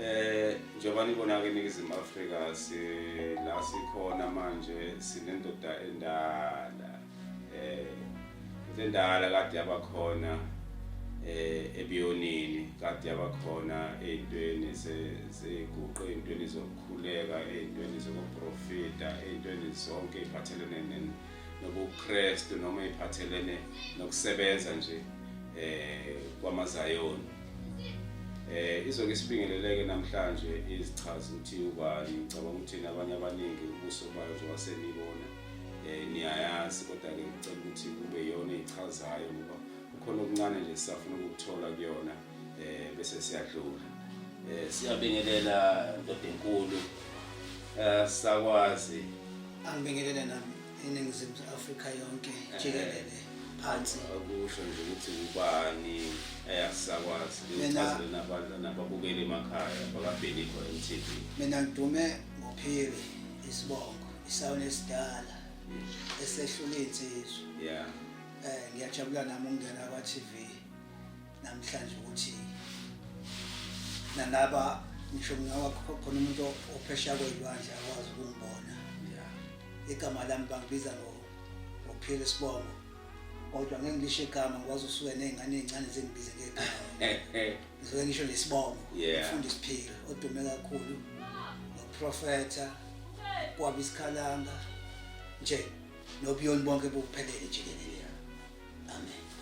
Eh njengoba nibona ke iNingizimu Afrika sila sikhona manje sinendoda endala. Eh into endala kade yabakhona eh ebiyonini kade yabakhona ezintweni seyiguqe ezintweni zokukhuleka ezintweni zokuprofita ezintweni zonke eziphathelene nobuKristu noma eziphathelene nokusebenza nje eh kwamaZayoni Eh izoke isibingeleleke namhlanje izichazi ukuthi ubani ngicabanga ukuthi nabanye abaningi ubuso bayo njengoba senibona eh niyayazi kodwa ke ngicela ukuthi kube yona echazayo ngoba kukhona okuncane nje sisafuna ukuthola kuyona eh bese siyadlula eh siyabingelela ndodenkulu eh sakwazi angibingelele nami iningizimu afrika yonke jikelele phansi akusho nje ukuthi ubani ayasakwazi lichazele nabantu nababukeli emakhaya bakabhenikho mtv mina ngidume ngophiri isibongo isawona esidala esehlula iy'nsizwa yeah um ngiyajabula nami ukungena kwa-tv namhlanje ukuthi nalaba ngisho ngawakho khona umuntu ophesheya kweyilwandle akwazi ukumbona igama lami bangibiza ngophile sibongo kodwa ngeke ngisho igama ngikwazi usuke nezingane ezincane zingibize ngegama ngisuke ngisho nesibongo ngifunda isiphilo odume kakhulu ngoprofetha kwaba isikhalanga nje nobuyoni bonke buphelele jikelele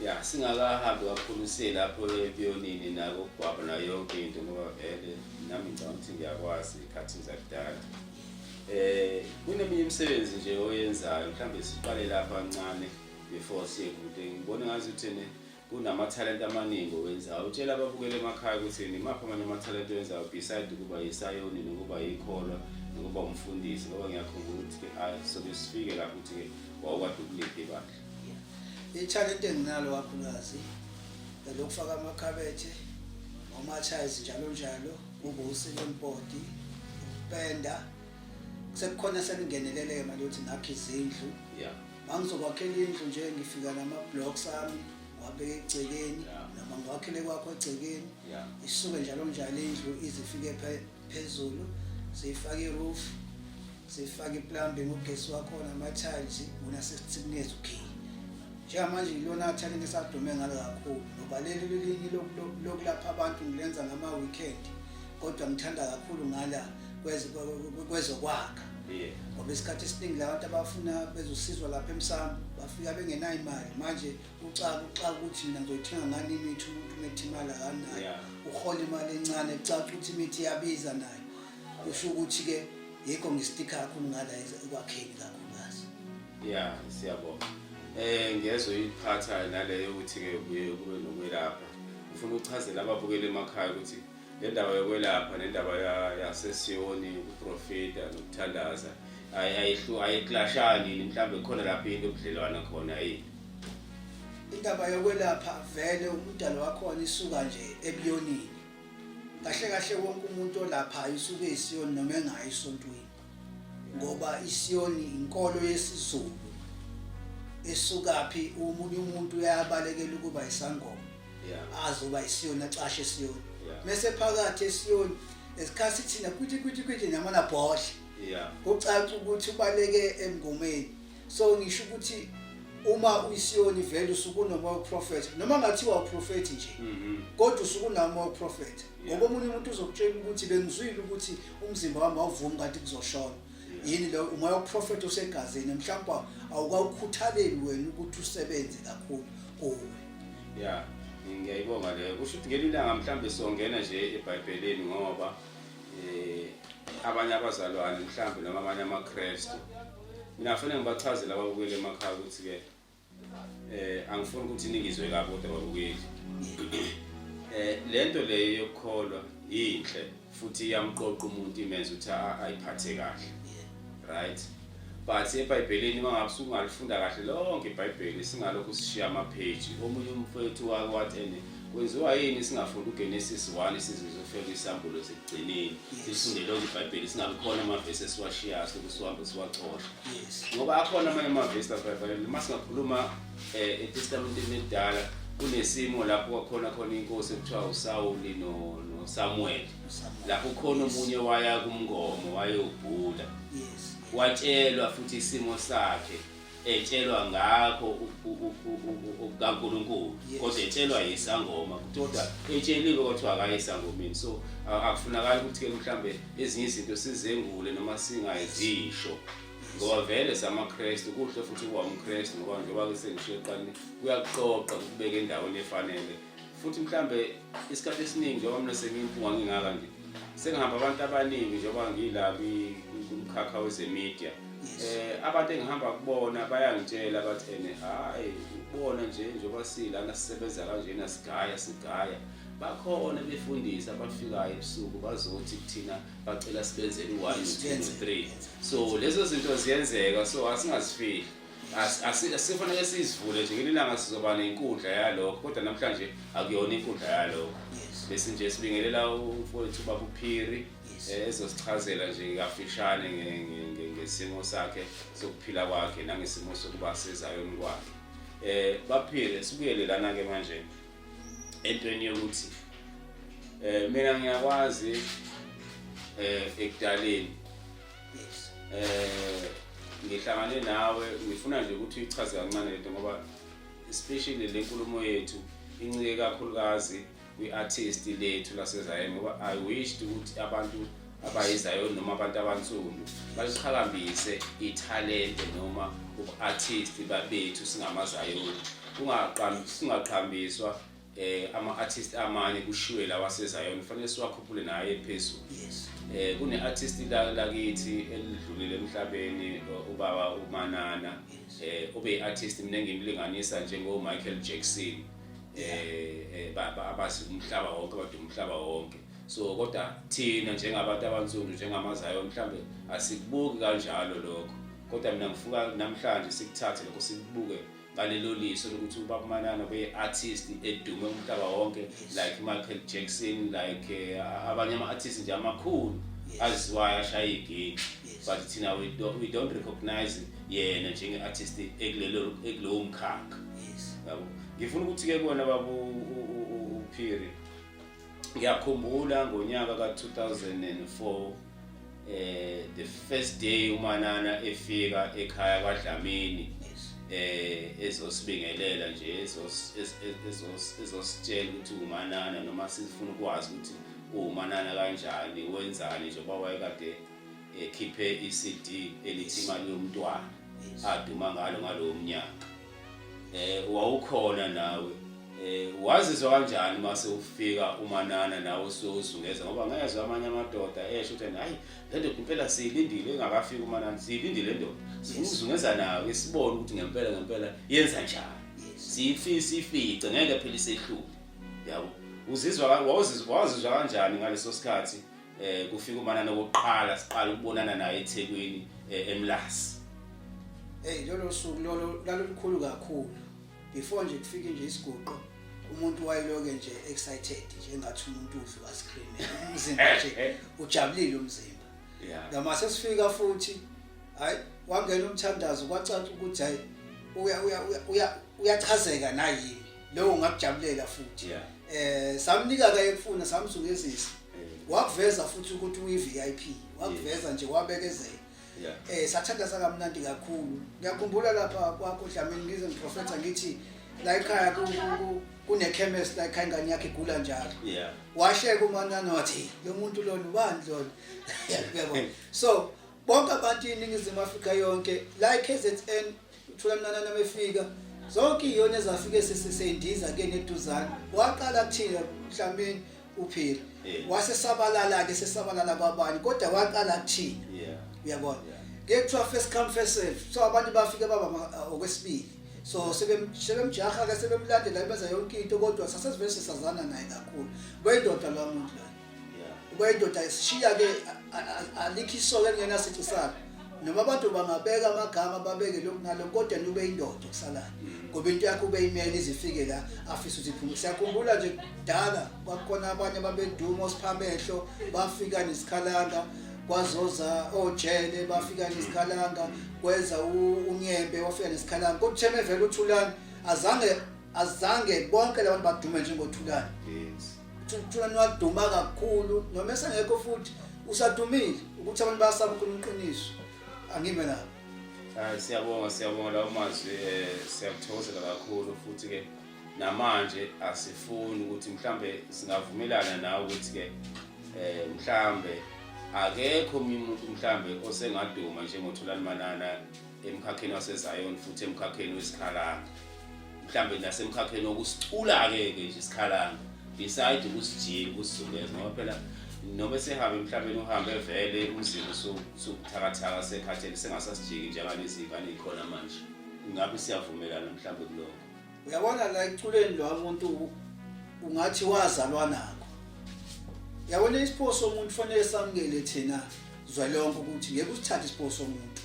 ya singakahambi kakhulu siye lapho epiyonini nakokugwaba nayo yonke into ngoba vele nami ngicabanga ukuthi ngiyakwazi ikhathini zakudala eh kuneminye imisebenzi nje oyenzayo mhlawumbe siqale lapha kancane before siye kude ngibona ngazi ukuthi ne kunamathalente amaningi owenzayo utshela ababukele emakhaya ukuthi nimaphi amanye amathalente owenzayo beside ukuba yisayoni nokuba yikholwa nokuba umfundisi ngoba ngiyakhumbula ukuthi-ke sobe sifike lapho ukuthi-ke wawukade ukuliphi ibandla ithalente enginalo kakhulukazi lokufaka amakhabethe omathayizi njalo njalo ubusi lempoti ukupenda sekukhona selingeneleleke manje ukuthi ngakhe izindlu yeah mangizokwakhela indlu nje ngifika nama-blocks ami wabeka egcekeni noma ngiwakhele kwakho egcekeni isuke njalo njalo indlu izifike phezulu siyifake iroof sifake iplumbing ugesi wakhona ama-tiles wona sesithikuneza ukhiyi njengamanje yilona athalente esadume ngalo kakhulu ngoba leli lilinye lokulapha abantu ngilenza ngama-weekend kodwa ngithanda kakhulu ngala kwezokwakha ngoba isikhathi esiningi la bantu abafuna bezosizwa lapha emsamo bafika bengenayo imali manje ucaka ucaka ukuthi mina ngizoyithenga ngani imithi umuntu umethi imali akanayo uhola imali encane kucaca ukuthi imithi iyabiza nayo kusho ukuthi ke yikho ngistika kakhulu ngala ekwakheni kakhulukazi ya siyabonga eh ngezwe iphatha naleyo ukuthi ke kuye kube nokwelapha ufuna ukuchazela ababukeli emakhaya ukuthi le ndaba yokwelapha nendaba yasesiyoni ukuprofita nokuthandaza ayiklashani mhlawumbe khona lapho into obudlelwana khona yini indaba yokwelapha vele umdalo wakhona isuka nje ebuyonini kahle kahle wonke umuntu olapha isuke isiyoni noma engayi esontweni ngoba isiyoni inkolo yesizulu esukaphi umunye umuntu uyabalekela ukuba isangoma azoba isiyoni acashe isiyoni mese phakathi esiyoni esikhathi thina kuthi kuthi kuthi namana bhodle kucaca ukuthi ubaleke emngomeni so ngisho ukuthi uma uyisiyoni vele usuke unomoya uprofetha noma ngathiwa uprofethi nje mhm. kodwa usuke unamoya uprofetha ngoba omunye umuntu uzokutshela ukuthi bengizwile ukuthi umzimba wami awuvumi kanti kuzoshona yini lo umoya woprofetha osegazini mhlawumbe awukawukhuthaleli wena ukuthi usebenze kakhulu kuwe ya ngiyayibonga leyo kusho ukuthi ngelinye ilanga mhlawumbe songena nje ebhayibhelini ngoba um abanye abazalwane mhlawumbe noma abanye amakrestu Mina kufanele ngibachazele ababukeli emakhaya ukuthi-ke eh angifuni ukuthi ningizwe kabi kodwa babukeli eh lento leyo yokukholwa yinhle futhi iyamqoqa umuntu imenza ukuthi ayiphathe kahle right but ebhayibhelini uma ngabe sungalifunda kahle lonke ibhayibheli singalokhu sishiya amapheji omunye umfowethu wake wathi Kwenziwa yini singafunda uGenesis 1 isizizwe ufeke isambulo sekugcineni sifunde lonke iBhayibheli singabe khona amavesi esiwashiyayo sokuthi sihambe siwacosha ngoba akhona amanye amavesi aBhayibheli uma singakhuluma eh, eTestamenteni elidala kunesimo lapho kwakhona khona inkosi ekuthiwa uSawuli no noSamuel lapho khona omunye waya kumngomo wayobhula watshelwa futhi isimo sakhe etshelwa ngakho kaNkulunkulu kodwa etshelwa yisangoma kodwa etsheliwe kwathiwa akayisangomeni so akufunakali ukuthi ke mhlambe ezinye izinto sizengule noma singayizisho ngoba vele samaKristu kuhle futhi kuwamKristu ngoba njengoba ke sengishiye eqaleni kuyakuqoqa ukubeka endaweni efanele futhi mhlambe isikhathi esiningi njengoba mina sengimpunga ngingaka nje sengihamba abantu abaningi njengoba ngila kumkhakha wezemedia eh abantu engihamba kubona bayangitshela bathi ene hayi ubona nje njengoba silana sisebenza kanjena sigaya sigaya bakhona befundisa abafikayo ebusuku bazothi kuthina bacela sibenzele u-1 2 3 so lezo zinto ziyenzeka so asingazifihli asifanele sizivule nje ngelinye ilanga sizoba nenkundla yalokho kodwa namhlanje akuyona inkundla yalokho bese nje sibingelela umfowethu ubaba uphiri eh, ezosichazela nje kafishane ngesimo sakhe sokuphila kwakhe nangesimo sokuba sezayoni kwakhe um baphile sibuyele lana-ke manje entweni yokuthi um mina ngiyakwazi um ekudaleni yes eh ngihlangane nawe ngifuna nje ukuthi uyichaze kancane lento ngoba especially le nkulumo yethu incike kakhulukazi kwi-artist lethu lasezayeni ngoba i wished ukuthi abantu abayizayoni noma abantu abansundu baliqhakambise ithalente noma ubu-artist babethu singamazayoni singaqhambiswa eh ama artist amanye kushiwe la waseZion kufanele siwakhuphule naye phezulu yes eh kune artist la lakithi elidlulile emhlabeni ubaba uManana eh ube artist mina ngimlinganisa njengo Michael Jackson eh, eh baba abazi umhlaba wonke abadu umhlaba wonke so kodwa thina njengabantu abansundu njengamaZion mhlambe asikubuki kanjalo lokho kodwa mina ngifuka namhlanje sikuthathe lokho sikubuke ngalelo liso lokuthi ubaba manana beye-artist edume umhlaba wonke like michael jackson like eh, abanye ama-artist nje amakhulu aziwayo ashaya igeni but thina we don't, we don't recognize yena njenge-artist ekulowo mkhakha yabo ngifuna ukuthi-ke kona baba uphiri ngiyakhumbula ngonyaka ka-2004 eh the first day umanana efika ekhaya kwaDlamini eh ezosibingelela nje ezos ezos ezositshela ukuthi umanana noma sifuna ukwazi ukuthi umanana kanjani wenzani nje baba wayekade ekhiphe iCD elithi imali yomntwana aduma ngalo ngalowo mnyaka um wawukhona nawe um wazizwa kanjani uma sewufika umanana nawe usuyozungeza ngoba ngezwe amanye amadoda esho ukuthi hhayi le ndoda impela siyilindile engakafiki umanana siyilindile le ndoda sizungeza nawe sibone ukuthi ngempela ngempela yenza njani siyifice ngeke phela isehlule yabo uzizwa wawuzizwa kanjani ngaleso sikhathi eh kufika umanana okokuqala siqala ukubonana naye eThekwini eh, eMlasi hey lolo suku lolo lalolukhulu kakhulu before nje kufike nje isiguqo umuntu wayeloke nje excited nje engathi umuntu udlu ka screen umzimba nje eh, eh. ujabulile umzimba yeah ngama sesifika futhi hayi wangena umthandazo kwacaca ukuthi hayi uya uya uya uyachazeka nayini leyo ngakujabulela futhi yeah. eh samnika ke ekufuna samzungezisa yeah. wakuveza futhi ukuthi uyi VIP wakuveza yeah. nje wabekezela yeah. eh sathandaza kamnandi kakhulu ngiyakhumbula lapha kwakho Dlamini ngize ngiprofetha ngithi la ekhaya ku kune chemist la ekhaya ingane yakhe igula njalo yeah washeka umanana wathi lo muntu lona ubani lona uyabona so bonke abantu iningizimu afrika yonke la i-kzn uthula mnanana befika zonke iyona ezafike sisendiza ke neduzane waqala kuthina mhlawumeni uphila wase sabalala ke sesabalala kwabani kodwa waqala kuthina uyabona ngeke kuthiwa first come first serve so abantu bafike baba uh, okwesibili so sebemjaha ke sebemlandela benza yonke into kodwa sasesivele sisazana naye kakhulu kwayindoda lwamuntu la uba indoda isishiya-ke alikho isoka elingenasici sakhe noma abantu bangabeka amagama babeke lokhu nalokhu kodwa niube indoda okusalayo mm. ngoba into yakho ube imele izifike la afise uziphume siyakhumbula nje kudala kwakukhona abanye babeduma osiphamehlo bafika nesikhalanga kwazoza ojele bafika nesikhalanga kwenza unyembe wafika nesikhalanga kodwa utheme vele uthulani azange azange bonke labantu badume njengothulani yes Thina niwaduma kakhulu noma esengekho futhi usadumile ukuthi abantu bayasaba ukhuluma iqiniso. Angime lapho. Hayi siyabonga siyabonga lawo mazwi eh siyakuthokozela kakhulu futhi ke namanje asifuni ukuthi mhlambe singavumelana nawe ukuthi ke eh mhlambe akekho omunye umuntu mhlambe osengaduma njengoThulani Manana emkhakheni waseZion futhi emkhakheni wesikhalanga mhlambe nasemkhakheni wokusicula-ke-ke nje isikhalanga beside ukusijika ukusizungeza ngoba phela noma sehambe emhlabeni uhambe vele umzimba usubuthakathaka sekhathele sengasasijiki njengalezi ngane yikhona manje ngabe siyavumelana mhlawumbe kuloko uyabona la eculeni lo muntu ungathi wazalwa nako yabona isipho somuntu fanele samukele thina zwa lonke ukuthi ngeke usithathe isipho somuntu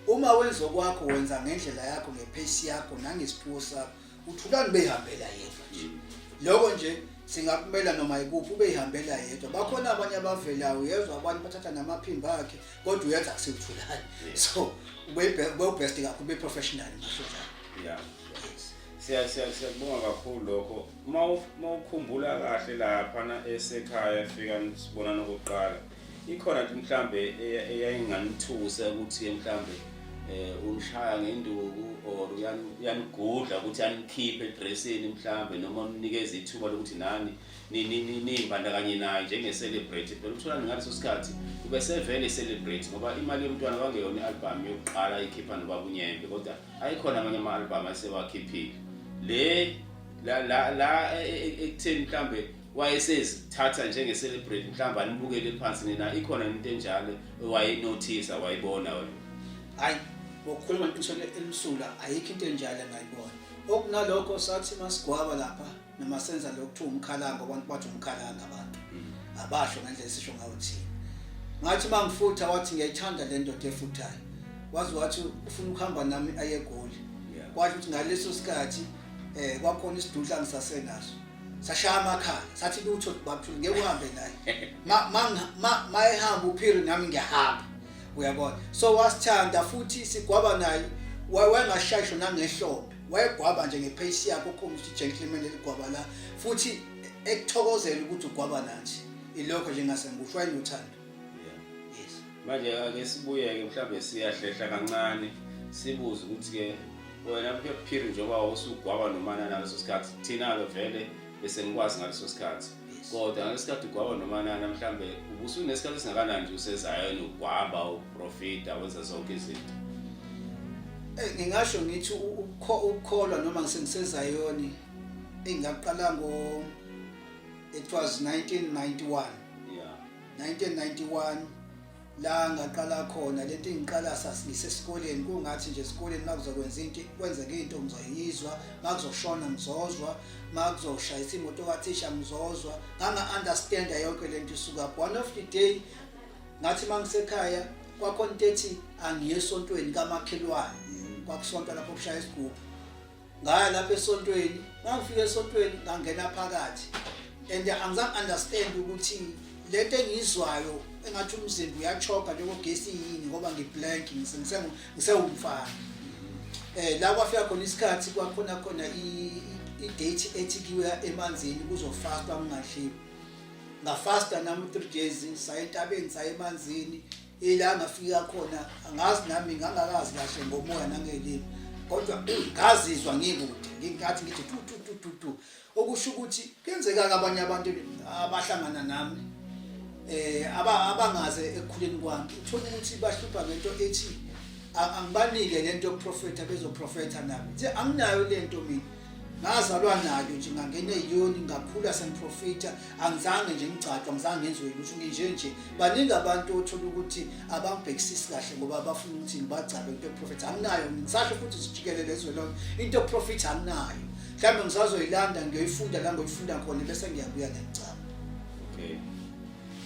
uma wenza okwakho wenza ngendlela yakho ngephesi yakho nangesiphiwo sakho uthulani beyihambela yedwa nje mm. lokho nje singakumela noma ikuphi ubeyihambela yedwa bakhona abanye abavelayo uyezwa abanye bathatha namaphimbo akhe kodwa uyenza kusewuthulani so ubebest kakhulu be-professional ngisho njalo siya siya siyakubonga kakhulu lokho uma uma ukhumbula kahle lapha na esekhaya efika sibona nokuqala ikhona nje mhlambe eyayinganithusa ukuthi mhlambe eh unishaya ngenduku or uyanigudla ukuthi anikhiphe edressini mhlambe noma unikeza ithuba lokuthi nani nimbandakanye naye njenge-celebrate phela ukuthola ngaleso sikhathi ube sevele i-celebrate ngoba imali yomntwana kwangeyona i-albhamu yokuqala ikhipha nobabunyembe kodwa ayikhona amanye ama-album ayesewakhiphile le la la la e, e, e, ekutheni mhlambe wayesezithatha njenge-celebrate mhlawumbe anibukele phansi nina ikhona into enjalo owayenothisa wayibona wena hayi ngokukhuluma iqiniso elimsulwa ayikho into enjalo engayibona okunalokho sathi masigwaba lapha noma senza lokhu kuthiwa umkhalanga abantu bathi umkhalanga abantu abasho ngendlela esisho ngayo thina ngathi uma ngifutha wathi ngiyayithanda le ndoda efuthayo wazi wathi ufuna ukuhamba nami aye egoli kwasho ukuthi ngaleso sikhathi um kwakhona isidudla ngisasenaso sashaya amakhala sathi lutho babuthule ngeke uhambe naye ma ehamba uphiri nami ngiyahamba uyabona so wasithanda futhi sigwaba naye wayengashayisho nangehlombe wayegwaba nje ngepace yakhe ukhombisa ukuthi gentleman eligwaba la futhi ekuthokozela ukuthi ugwaba nathi ilokho nje ngase ngikusho wayenothando yes manje ake sibuyeke mhlawumbe siyahlehla kancane sibuze ukuthi ke wena kuphiri njengoba usugwaba nomana naleso sikhathi thina-ke vele bese ngikwazi ngaleso sikhathi kodwa ngesikhathi ugwaba nomanana mhlambe ubusunesikhathi esingakanani nje usezayona ugwaba uprofita wenza zonke izinto eh, ngingasho ngithi ukukholwa noma ngisengisezayoni engaqala ngo it was 1991 yeah 1991 la ngaqala khona lento engiqala sasisesikoleni kungathi nje esikoleni makuzokwenza into kwenzeka into ngizoyizwa makuzoshona ngizozwa makuzoshayisa imoto kathisha ngizozwa nganga understand yonke lento isuka one of the day ngathi mangisekhaya kwakhona into ethi angiye esontweni kamakhelwane mm. kwakusonta lapho kushaya isigubhu ngaya lapha esontweni ngangifika esontweni ngangena phakathi and angizange understand ukuthi lento engiyizwayo engathi umzimba uyachoka njengogesi yini ngoba ngiblank ngisewumfana eh la kwafika khona isikhathi kwakhona khona i-date ethi kuya emanzini kuzofastwa kungadliwa ngafasta nami 3 days saye entabeni saye emanzini ila ngafika khona angazi nami ngangakazi kahle ngomoya nangelimi kodwa ngazizwa ngikude ngingathi ngithi tu tu tu tu tu okusho ukuthi kenzeka abanye abantu abahlangana nami eh aba abangaze ekukhuleni kwami uthola ukuthi bahlupha ngento ethi angibanike lento yokuprofetha bezoprofetha nami nje anginayo lento mina ngazalwa nayo nje ngangena eyoni ngakhula sengiprofitha angizange nje ngigcagqa ngizange ngenziwe ukuthi nginje nje baningi abantu othola ukuthi abangibhekisisi kahle ngoba bafuna ukuthi ngibagcabe into yokuprofitha anginayo ngisasho futhi sijikelele ezwe lonke into yokuprofitha anginayo mhlawumbe ngisazoyilanda ngiyoyifunda la ngoyifunda khona bese ngiyabuya ngiyacaba okay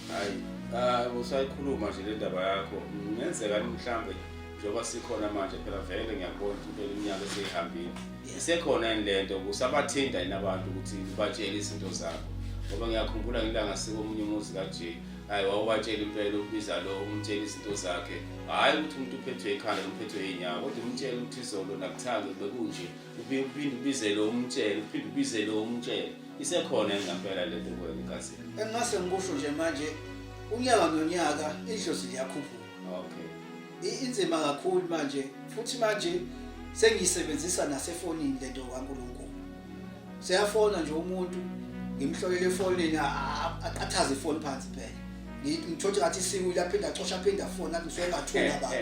hayi ah, usayikhuluma nje le ndaba yakho ngenzeka mhlawumbe njengoba sikhona manje phela vele ngiyakubona ukuthi impela iminyaka eseyihambile isekhona yini le nto kusabathinta yini abantu ukuthi ubatshele izinto zabo ngoba ngiyakhumbula ngilanga sikomunye umuzi kaje hayi wawubatshela impela ukubiza lo umtshela izinto zakhe hhayi ukuthi umuntu uphethwe ikhanda uphethwe iy'nyawo kodwa umtshele ukuthi izolo nakuthanga bekunje uphinde ubizele umtshele uphinde ubizele umtshele isekhona engampela le nto kwena igazini engingase ngikusho nje manje unyaka nonyaka idlozi liyakhuphuka okay I- inzima kakhulu manje futhi manje sengiyisebenzisa nasefonini lento kaNkulunkulu seyafona nje umuntu ngimhlolele efonini a- a- aqathaze ifoni phansi phela Ngi- ngithole ngathi isiwile aphinde acosha aphinde afona athi ngisuke ngathula baba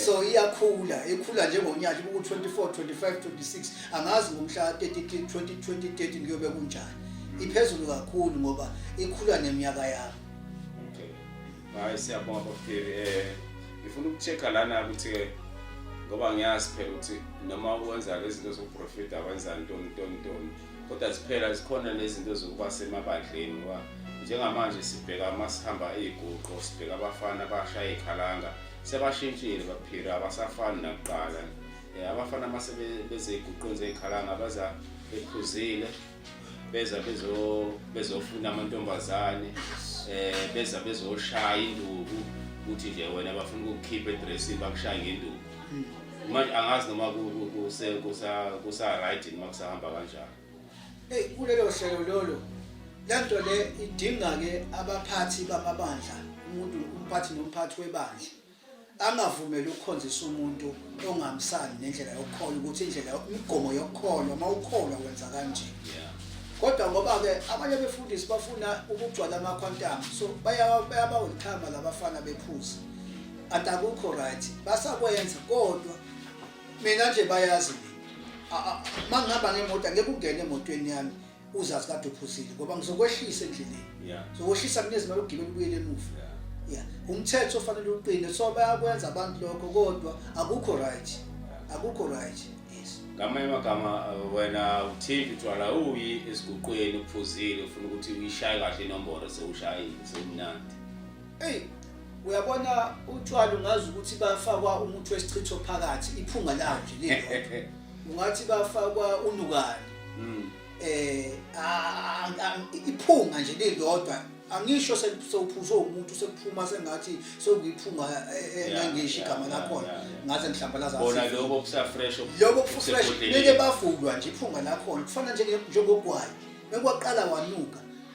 so iyakhula ikhula njengonyaka kuku 24 25 26 angazi ngomhla 30 2020 kuyobe kunjani iphezulu kakhulu ngoba ikhula neminyaka yami Hayi siyabonga baphili eh ngifuna ukucheck lana ukuthi ke ngoba ngiyazi phela ukuthi noma ukwenza lezi zinto zokuprofita wenza ntoni ntoni ntoni kodwa ziphela zikhona nezinto zokuba semabadleni ngoba njengamanje sibheka uma sihamba iy'guqo sibheka abafana abashaya iy'khalanga sebashintshile baphila abasafani nakuqala um abafana uma sebezey'guqweni zey'khalanga baza bephuzile beza bezo bezofuna amantombazane eh beza bezoshaya induku ukuthi nje wena bafuna ukukhipha edressini bakushaya ngenduku hmm. manje angazi noma kuse kusa kusa right noma kusahamba kanjani hey kulelo hlelo lolo lento le idinga ke abaphathi bamabandla umuntu umphathi nomphathi webandla angavumeli ukukhonzisa umuntu ongamsani nendlela yokukholwa ukuthi indlela imigomo yokukholwa uma ukholwa wenza kanje kodwa ngoba-ke abanye befundisi bafuna ukugcwala amakhwantamu so bayabawelithama labafana bephuza kanti akukho right basakwenza kodwa mina nje bayazi mina uma ngihamba ngemoto angeke ungene emotweni yami uzazi kade uphuzile ngoba ngizokwehlisa endleleni yeah. zokwehlisa kunezimali ukugibela ubuyele emuva yeah. yeah. umthetho ofanele uqine so bayakwenza abantu lokho kodwa akukho right yeah. akukho right yes ngamanye amagama uh, wena uthinta utshwala uyi esiguqweni uphuzile ufuna ukuthi uyishaye kahle inomboro sewushayile sewumnandi eyi uyabona utshwala ungazi ukuthi bafakwa umuthi wesichitho phakathi iphunga lawo nje lilodwa ungathi bafakwa unukani mm. eh iphunga nje lilodwa angisho sewuphuzwe umuntu sekuphuma sengathi sekuyiphunga engangisho eh, eh, igama lakhona ngaze ngihlambalaza bona lokho kusafresh lokho kusafresh mele bavulwa nje iphunga lakhona kufana nje njengogwayi bekwaqala wanuka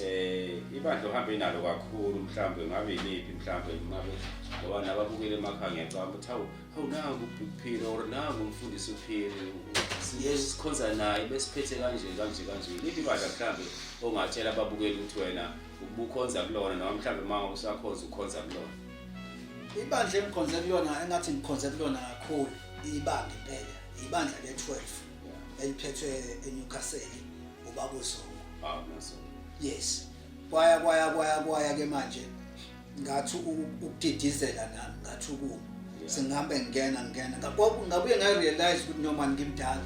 Eh ibandla uhambe nalo kakhulu mhlawumbe ngabe yimiphi mhlawumbe ngabe ngoba nababukele emakhaya ngiyacabanga ukuthi hawu hawu nangu uphile or nangu umfundisi uphile sikhonza naye besiphethe kanje kanje kanje liphi ibandla mhlawumbe ongatshela ababukeli ukuthi wena ubukhonza kulona noma mhlawumbe uma usakhonza ukhonza kulona ibandla engikhonze kulona engathi ngikhonze kulona kakhulu ibandla impela ibandla le-12 eliphethwe eNewcastle ubaba uZungu ah uZungu yes kwaya kwaya kwaya kwaya ke manje ngathi ukudidizela nami ngathi ukuma sengihambe ngingena ngingena ngabuye ngarealize ukuthi noma ngimdala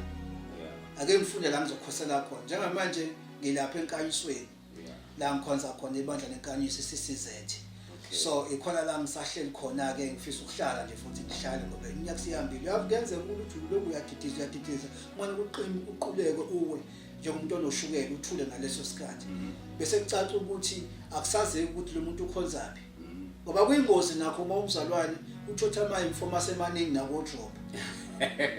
ake ngifunde la ngizokhosela khona njengamanje ngilapha enkanyisweni la ngikhonza khona ibandla lenkanyisi CCZ so ikhona la ngisahleli khona ke ngifisa ukuhlala nje futhi ngihlale ngoba iminyaka siyambile uyakuyenzeka ukuthi uloku uyadidisa uyadidisa manje kuqini uquleke uwe njengomuntu onoshukela uthule ngaleso sikhathi mhm. bese kucaca ukuthi akusazeki ukuthi lo muntu ukhonzaphi mhm. ngoba kuyingozi nakho uma umzalwane uthotha ama informers emaningi nakodrop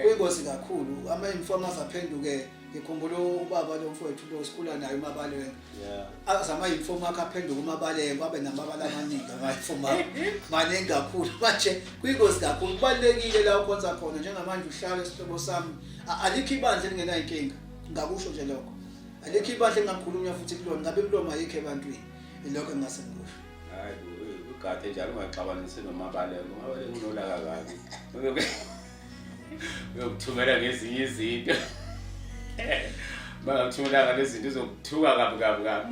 kuyingozi kakhulu ama informers aphenduke ngikhumbula ubaba lomfowethu lo sikhula naye umabalenge aze amayunifomu akhe aphenduka umabalenge abe namabala amaningi amayunifomu akhe maningi kakhulu manje kwingozi kakhulu kubalulekile la ukhonza khona njengamanje uhlale isihlobo sami alikho ibandla elingenayinkinga ngakusho nje lokho alikho ibandla engakhulunywa futhi kulona ngabe kuloma yikho ebantwini ilokho engase ngikusho hayi ugathe njalo ungaxabanisi nomabalenge umabalenge unolaka kabi uyokuthumela ngezinye izinto bangamthumelanga lezinto uzokuthuka kabi kabi kabi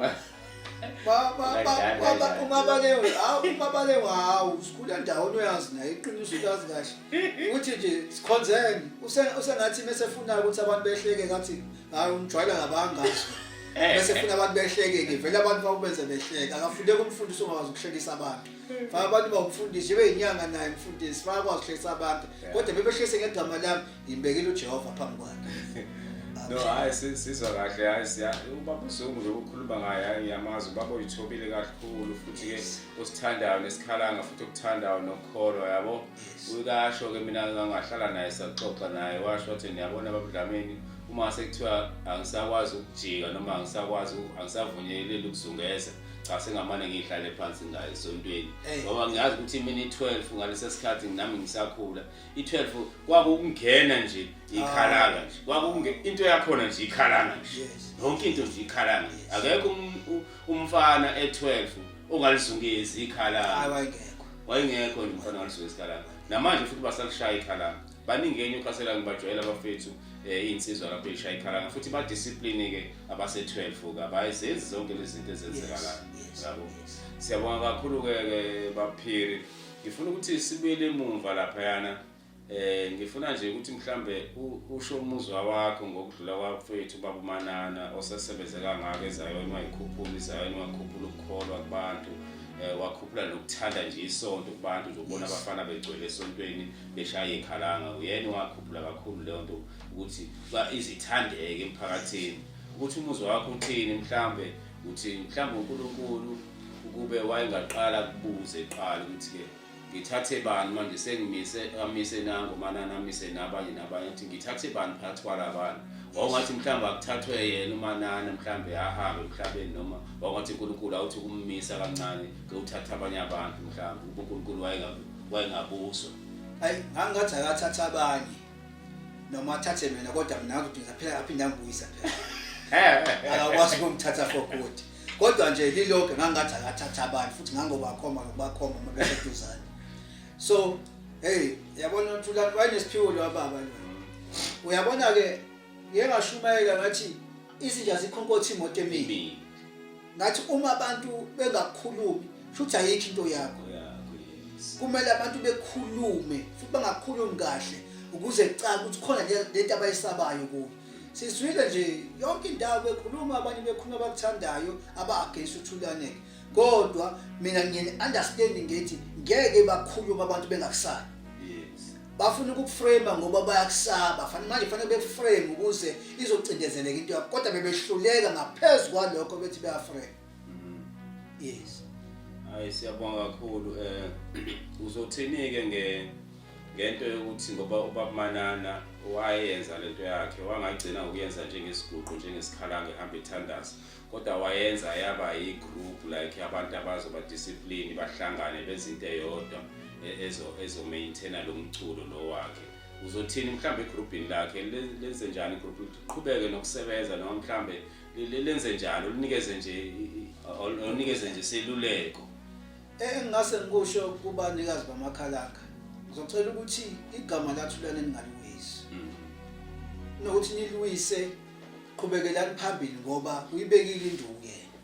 umabalengwe hawu umabalengwe hawu sikhule ndawoni uyazi naye iqiniso uyazi kahle ukuthi nje sikhonzeni usengathi mesefunayo ukuthi abantu behleke ngathi hayi umjwayela ngabangazi eh. mesefuna abantu behleke-ke vele abantu bakubenze behleke akafuneki umfundisi ongakwazi ukuhlekisa abantu faka abantu bawumfundisi ibe yinyanga naye mfundisi faka kwazi uhlekisa abantu kodwa bebehlise ngegama lami ngibekile ujehova phambi kwakhe no hayi sizwa kahle hayi siya ubaba uzungu lokukhuluma ngaye hayi ngiyamazi ubaba uyithobile kakhulu futhi ke usithandayo nesikhalanga futhi okuthandayo nokukholwa yabo uyikasho ke mina ngangahlala naye saxoxa naye washo wathi niyabona ababudlameni uma sekuthiwa angisakwazi ukujika noma angisakwazi angisavunyeleli ukuzungeza cha sengamane ngihlale phansi ngayo esontweni ngoba ngiyazi ukuthi imini i-12 ngalesa sikhathi nami ngisakhula i-12 kwakukungena nje ikhalanga nje ah. kwakunge into yakhona nje ikhalanga nje yonke into nje ikhalanga nje akekho um-, umfana e-12 ongalizungezi ikhalanga wayengekho nje umfana ongalizungezi ikhalanga namanje futhi basalishaya ikhalanga baningi eNewcastle angibajwayela abafethu eh, iy'nsizwa lapho ey'shaya ikhalanga futhi badiscipline-ke abase-12-ke abazenzi zonke lezi zinto ezenzekalayo yabo siyabonga kakhulu-ke ke baphiri ngifuna ukuthi sibuyele emumva laphayana eh ngifuna nje ukuthi mhlambe usho umuzwa wakho ngokudlula kwafethu baba uManana osesebenze kangaka ezayona wayikhuphula izayona wakhuphula ukukholwa kubantu eh wakhuphula nokuthanda nje isonto kubantu nje ukubona abafana begcwele esontweni beshaya ikhalanga uyena wakhuphula kakhulu leyo nto ukuthi ba izithandeke emphakathini ukuthi umuzi wakho uthini mhlambe uthi mhlambe uNkulunkulu ukube wayengaqala kubuze qala ukuthi ke ngithathe bani manje sengimise amise nango manana amise nabanye nabanye ukuthi ngithathe bani phakathi kwalabantu wawungathi mhlawumbe akuthathwe yena umanana mhlawumbe ahambe emhlabeni noma wawungathi unkulunkulu awuthi ukumisa kancane kewuthatha abanye abantu mhlawumbe unkulunkulu wayengaku wayengabuzwa ayi ngangathi akathatha abanye noma athathe mina kodwa mina ngidinga phela aphinde angibuyisa phela akakwazi ukumthatha for good kodwa nje lilokho ngangathi akathatha abanye futhi ngangobakhoma ngokubakhoma uma beseduzane so hey yabona uNtulani wayenesiphiwo lo baba lo uyabona ke ngengashumayela ngathi izinja zikhonkothi imoto emini ngathi uma abantu bengakhulumi futhi ayikho into yakho kumele abantu bekhulume futhi bangakhulumi kahle ukuze kucaca ukuthi khona lento abayisabayo kuyo sizwile nje yonke indawo bekhuluma abanye bekhuluma abakuthandayo aba-against uthulaneke kodwa mina ngiyeni understand ngithi ngeke bakhulume abantu bengakusali bafuna ukukuframe ngoba bayakusaba fanele manje fanele bekuframe ukuze izocindezeleka into yakho kodwa bebehluleka ngaphezulu kwalokho bethi beyaframe mm-hmm. yes hayi siyabonga kakhulu eh uzothini ke nge ngento yokuthi ngoba ubakumanana wayenza lento yakhe wangagcina ukuyenza njengesiguqu njengesikhalange ehamba ethandaza kodwa wayenza yaba yi-group like abantu abazoba discipline bahlangane benze into eyodwa e-, ezomaintaina lo mculo lo wakhe uzothini mhlawumbe egrubhini lakhe lenze njani igrubhu liqhubeke nokusebenza noma mhlawumbe lenze njani ulinikeze nje onikeze nje seluleko engingase ngikusho kubanikazi bamakhalanga ngizocela ukuthi igama lathulane ningaliwisi mm. nokuthi niliwise qhubekelani phambili ngoba uyibekile induku yena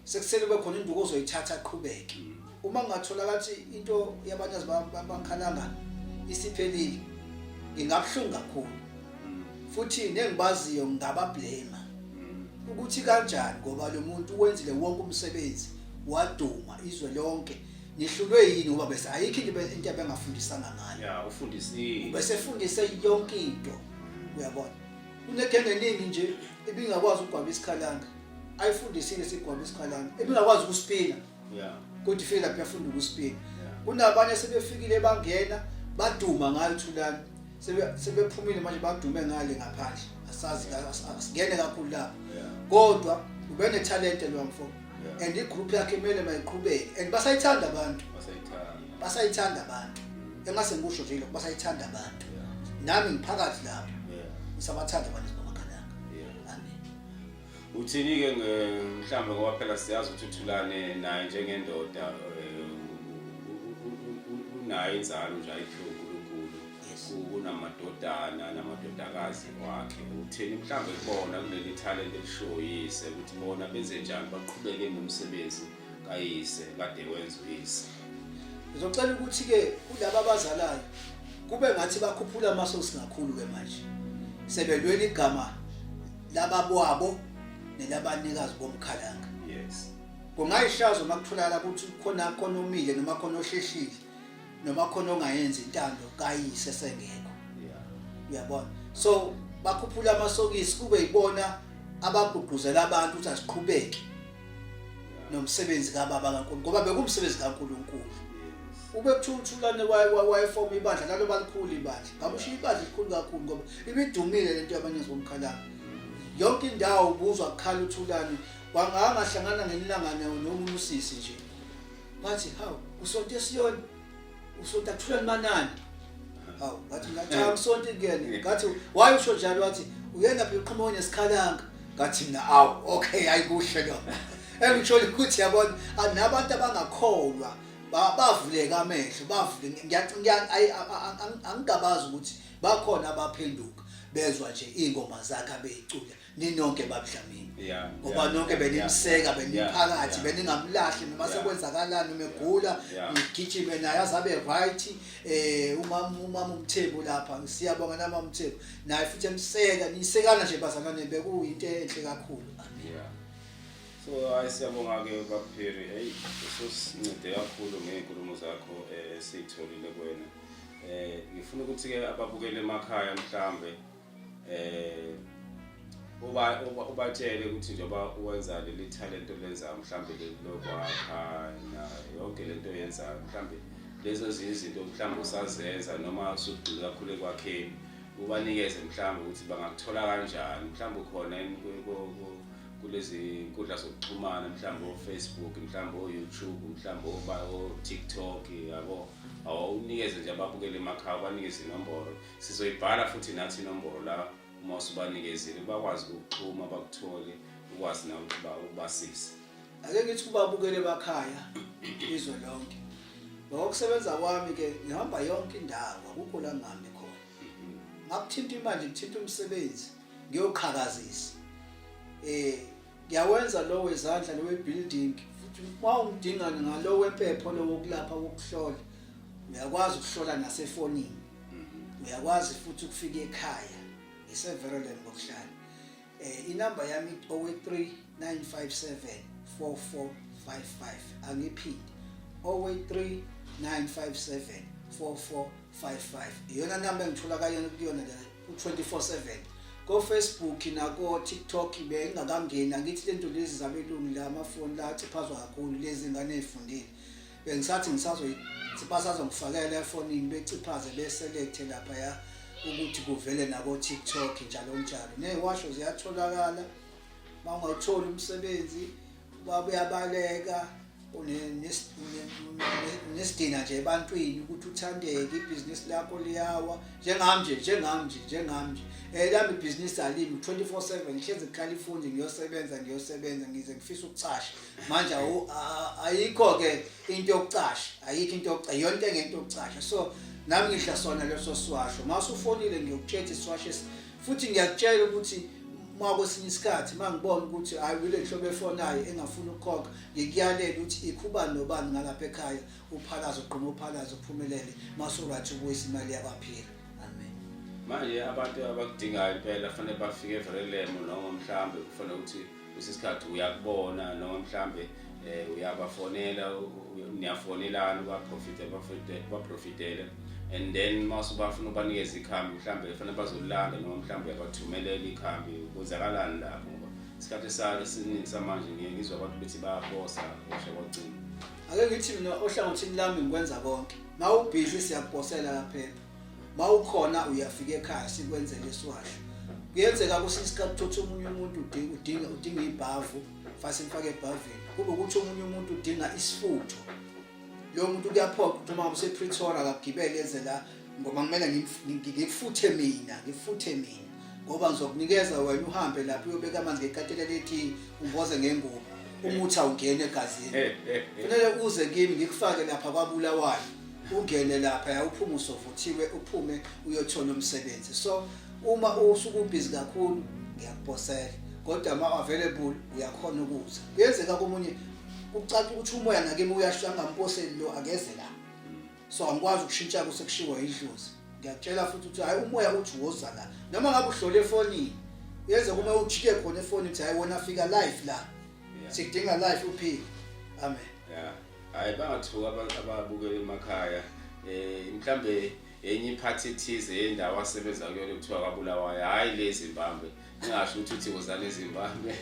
sekusele kube khona induku ozoyithatha aqhubeke mm. uma ngathola kathi into yabanye bakhalanga isiphelile ngingabuhlungu kakhulu mm. futhi nengibaziyo ngabablema mm. ukuthi kanjani ngoba lo muntu wenzile wonke umsebenzi waduma izwe lonke nihlulwe yini ngoba bese ayikho into into abengafundisanga ngayo ya ufundisile bese fundise yonke into uyabona kunegenge eningi nje ebingakwazi ukugwaba isikhalanga ayifundisile sigwaba isikhalanga ebingakwazi ukusipina yeah kodwa ifike lapho yafunda ukusipina kunabanye sebefikile bangena baduma ngayo thulani sebephumile manje badume ngale ngaphandle asazi asingene kakhulu lapho kodwa ubenethalente lo mfo and igroup yakhe kumele mayiqhubeke and basayithanda abantu basayithanda abantu engase ngikusho nje lokho basayithanda abantu nami ngiphakathi lapho ngisabathanda abantu bamakhalanga amen uthini ke mhlawumbe ngoba phela siyazi ukuthi uthulane naye njengendoda eh, unayo inzalo nje ayihluku kunamadodana namadodakazi wakhe utheni mhlawumbe kubona kuleli talent elishoyise ukuthi bona benze njani baqhubeke nomsebenzi kayise kade wenza uyise ngizocela ukuthi-ke kulaba abazalayo kube ngathi bakhuphula amasosi kakhulu-ke manje sebelwela igama lababwabo nelabanikazi bomkhalanga yes kungayishazo uma kutholakala ukuthi khona khona omile noma khona osheshile noma khona ongayenzi intando kayise sengekho uyabona so bakhuphula amasokisi kube yibona abagqugquzela abantu ukuthi asiqhubeke nomsebenzi kababa kaNkulunkulu ngoba bekumsebenzi kaNkulunkulu ubekuthululane wayefoma ibandla lalo balikhulu ibandla ngamushiya ibandla elikhulu kakhulu ngoba ibidumile lento yabanye zomkhalanga yonke indawo ubuzwa kukhala uthulane wangangahlangana ngenilangane nomusisi nje Wathi hawu usonto esiyona usonto athula limanani. Hawu wathi ngathi hawu usonto kuyena. Ngathi waye usho njalo wathi uyena phela uqhamuka nesikhalanga. Ngathi mina awu okay ayikuhle lo. Engitshole ukuthi yabona anabantu abangakholwa ba- bavuleka amehlo bavule ngiya- ngiya- ayi, a- a- a- angigabazi ukuthi bakhona abaphenduka bezwa nje ingoma zakhe abeyicula ninonke babudlamini yeah, ngoba yeah, nonke benimseka beniphakathi beningamlahli noma sekwenzakalani uma egula ngigijime naye azabe right eh umama umama umthembu lapha siyabonga nama umthembu naye futhi emseka nisekana nje bazalwane bekuyinto enhle kakhulu yeah so hayi siyabonga ke baphiri hey usosincede kakhulu ngeenkulumo zakho eh, esitholile kuwena eh ngifuna ukuthi ke ababukele emakhaya mhlambe eh uba ubatshele ukuthi njengoba uwenza leli talent olenzayo mhlawumbe leli lokwakha na yonke lento oyenzayo mhlawumbe lezo ezinye izinto mhlawumbe usazenza noma usugxile kakhulu ekwakheni ubanikeze mhlawumbe ukuthi bangakuthola kanjani mhlawumbe ukhona yini ku- ku- ku- kulezi nkundla zokuxhumana mhlawumbe o-facebook mhlawumbe o-youtube mhlawumbe oba- o-tiktok yabo awunikeze nje ababukele emakhaya ubanikeze inomboro Sizoyibhala futhi nathi inombolo la uma usubanikezile bakwazi ukuxhuma bakuthole ukwazi nawe ukuthi ba- ubasize. ake ngithi ubabukele bakhaya izwe lonke ngokusebenza kwami ke ngihamba yonke indawo akukho la ngihambe khona ngakuthinta imanje ngithinta umsebenzi ngiyoqhakazisa eh ngiyawenza lo wezandla lo webuilding futhi uma ungidinga ngalo wempepho lo wokulapha wokuhlola uyakwazi ukuhlola nasefonini mhm. uyakwazi futhi ukufika ekhaya ngisevereland ngokuhlala eh inamba yami owe 3957 4455 angiphinde owe 3957 4455 iyona namba engithola kayona kuyona ku-24/7 kofacebook nako-tiktok bengingakangeni angithi le nto lezi zabelungu la amafoni la aciphazwa kakhulu lezi ngane ey'fundile bengisathi basazongifakela efonini beciphaze beselekte laphaya ukuthi kuvele nako-tiktok njalo njalo ney'washo ziyatholakala uma ungawutholi umsebenzi ubaba uyabaleka unesidina nje ebantwini ukuthi uthandeke ibhizinisi lakho liyawa njengami nje njengami nje njengami nje um lami ibhizinisi alimi twenty four seven ngihlezi kukhalifundi ngiyosebenza ngiyosebenza ngize ngifisa ukucasha manje ayikho-ke into yokucasha ayikho into yokucasha iyona into engento yokucasha so nami ngidla sona leso siwasho uma usufonile ngiyokutshela isiwasho futhi ngiyakutshela ukuthi uma kwesinye isikhathi uma ngibona ukuthi hayi kule nhlobo efonayo engafuni ukukhokha ngikuyalela ukuthi ikhuba nobani ngalapha ekhaya uphalaza uqhuma uphalaza uphumelele masurathi ubuyisa imali yakwaphila amen manje abantu abakudingayo impela fanele bafike evelelemo noma mhlambe kufanele ukuthi usesikhathi uyakubona noma mhlambe eh uyabafonela niyafonelana baprofite baprofite baprofitele and then mase bafuna ubanikeza ikhambi mhlambe kufanele bazolanda noma mhlambe uyabadhumelela ikhambi kwenzakalani lapho ngoba isikhathi esake siningi samanje ngiye ngizwa abantu bethi bayabosa osha kwacinga ake ngithi mina ohlangothini lami ngikwenza konke mawubhizi siyakuphosela lapha mawukhona uyafika ekhaya sikwenzele isiwasho kuyenzeka kusiska kuthotha omunye umuntu udinga udinga udinga ibhavu fase mfake ebhavini kube ukuthi omunye umuntu udinga isifutho lo muntu kuyaphoqa ukuthi uma usePretoria akagibele eze la ngoba kumele ngifuthe mina ngifuthe mina ngoba ngizokunikeza wena uhambe lapho uyobeka amanzi ngekatela lethi umboze ngengubo umuthi awungene egazini kufanele uze kimi ngikufake lapha kwabulawayo ungene lapha yawuphuma usovuthiwe uphume uyothola umsebenzi so uma usuke ubhizi kakhulu ngiyakuphosela kodwa uma available uyakhona ukuza kuyenzeka komunye kucaca ukuthi umoya nakimi uyasho angamphoseli lo akeze la so angikwazi ukushintsha kusekushiwo yidlozi ngiyakutshela futhi ukuthi hayi umoya uthi woza la noma ngabe uhlole efonini yenze kuma ujike khona efonini ukuthi hayi wona fika live la sikudinga live uphile amen yeah hayi bangathuka abantu ababukela emakhaya um mhlawumbe enye iphathi ethize yendawo asebenza kuyona kuthiwa kwabulawayo hhayi le zimbabwe ngingasho ukuthi uthi wozane zimbabwe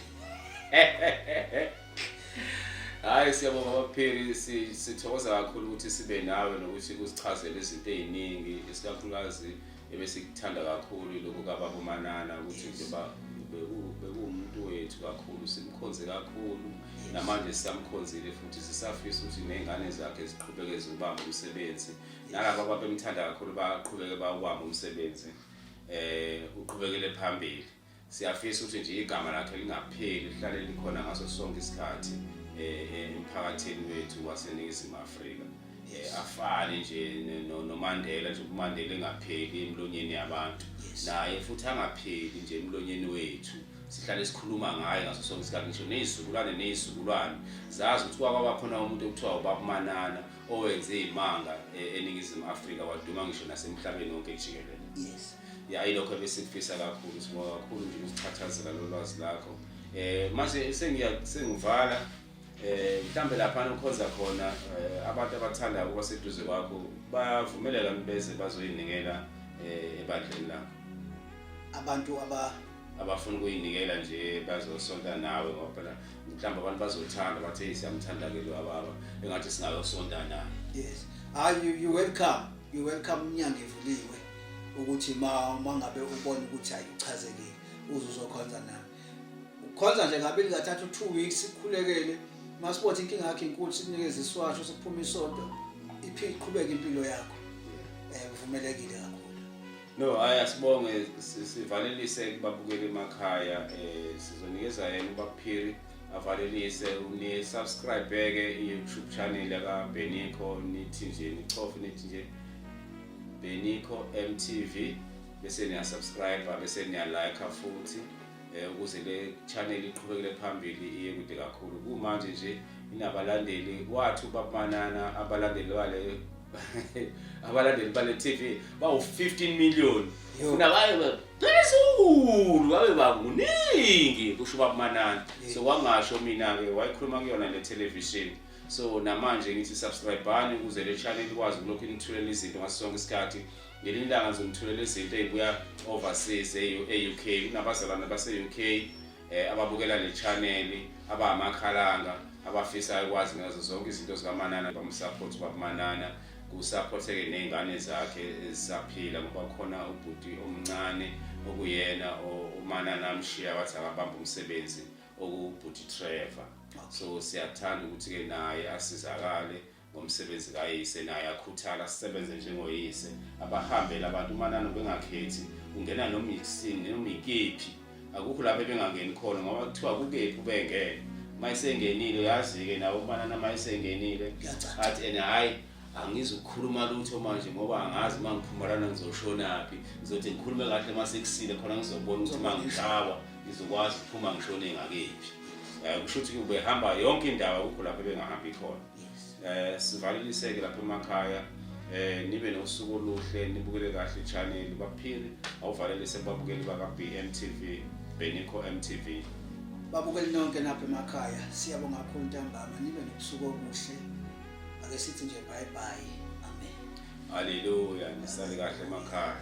hhayi siyabonga bapheli sithokoza kakhulu ukuthi sibe nawe nokuthi kusichazele izinto ey'ningi isikakhulukazi Ebesikuthanda kakhulu lokhu kababa uManana ukuthi nje ba beku- bekuwumuntu wethu kakhulu simkhonze kakhulu namanje sisamkhonzile futhi sisafisa ukuthi ney'ngane zakhe ziqhubeke ziwubambe umsebenzi nalaba ababemthanda kakhulu baqhubeke bawubambe umsebenzi um uqhubekele phambili Siyafisa ukuthi nje igama lakhe lingapheli lihlale likhona ngaso sonke isikhathi eh, eh, emphakathini wethu waseNingizimu Afrika. Eh, afane nje noMandela nje uMandela engapheli emlonyeni yabantu naye futhi angapheli nje emlonyeni wethu sihlale sikhuluma ngaye ngaso sonke isikhathi ngisho nezizukulwane nezizukulwane zazi ukuthi kwaba khona umuntu okuthiwa ubakumanana owenze izimanga e, eningizimu Afrika waduma ngisho nasemhlabeni wonke jikelele yes ya ilokho ebesikufisa kakhulu sibonga kakhulu nje usichathazela lolwazi lakho eh manje sengiya sengivala eh mhlambe lapha nokhonza khona eh, abantu abathanda ukuba seduze kwakho bavumelela beze bazoyinikela eh, ebandleni lakho abantu aba abafuna ukuyinikela nje bazosonta nawe ngoba phela mhlawumbe abantu bazothanda bathe siyamthanda ke lo ababa engathi singayosonta naye yes are you you welcome You welcome umnyango evuliwe ukuthi ma mangabe ubona ukuthi ayichazekile uze uzokhonza nami. Ukhonza nje ngabili kathathu 2 weeks sikhulekele masibothe inkinga yakhe inkulu sikunikeza iswasho sikuphuma isonto iqhubeke impilo yakho. Eh kuvumelekile kakhulu. No, hayi asibonge sivalelise kubabukeli emakhaya eh sizonikeza yena ubaphiri avalelise ni subscribe ke YouTube channel ka Beniko nithi nje nichofe nithi nje Beniko MTV bese niya subscribe bese niya like futhi eh, ukuze le channel iqhubekele phambili iye kude kakhulu kumanje nje inabalandeli wathu bamanana abalandeli bale abalandeli bale TV bawu 15 million unabayo phezulu babe banguningi kusho ubaba Manana so kwangasho mina ke wayikhuluma kuyona le television so namanje ngithi subscribani ukuze le channel ikwazi ukulokhu inithulela izinto ngaso sonke isikhathi ngelinye ilanga ngizonithulela izinto ezibuya overseas e-UK kunabazalwane base-UK eh, ababukela le channel abamakhalanga abafisayo kwazi ngazo zonke izinto zikaManana bamusupport bakuManana kusupporteke nezingane zakhe ezisaphila ngoba khona ubhuti omncane okuyena uManana amshiya wathi akabamba umsebenzi okubhuti Trevor so siyathanda ukuthi ke naye asizakale ngomsebenzi kayise naye akhuthala sisebenze njengoyise abahambele abantu umanani ubengakhethi ungena noma isini noma ikephi akukho lapho ebengangeni khona ngoba kuthiwa kukephi ubengene mayisengenile uyazi-ke nawo umanana mayisengenile athi and hhayi angizukukhuluma lutho manje ngoba angazi uma ngiphumalana ngizoshonaphi ngizothi ngikhulume kahle uma sekusile khona ngizobona ukuthi uma ngishawa ngizokwazi ukuphuma ngishone ngakephi um kusho ukuthi ubehamba yonke indawo akukho lapho ebengahambi khona eh sivaleliseke lapha emakhaya eh nibe nosuku oluhle nibukele kahle channel baphili awuvalelise babukeli baka BMTV Benikho MTV babukeli nonke napha emakhaya siyabonga kakhulu ntambama nibe nobusuku obuhle ake sithi nje bye bye amen haleluya nisale kahle emakhaya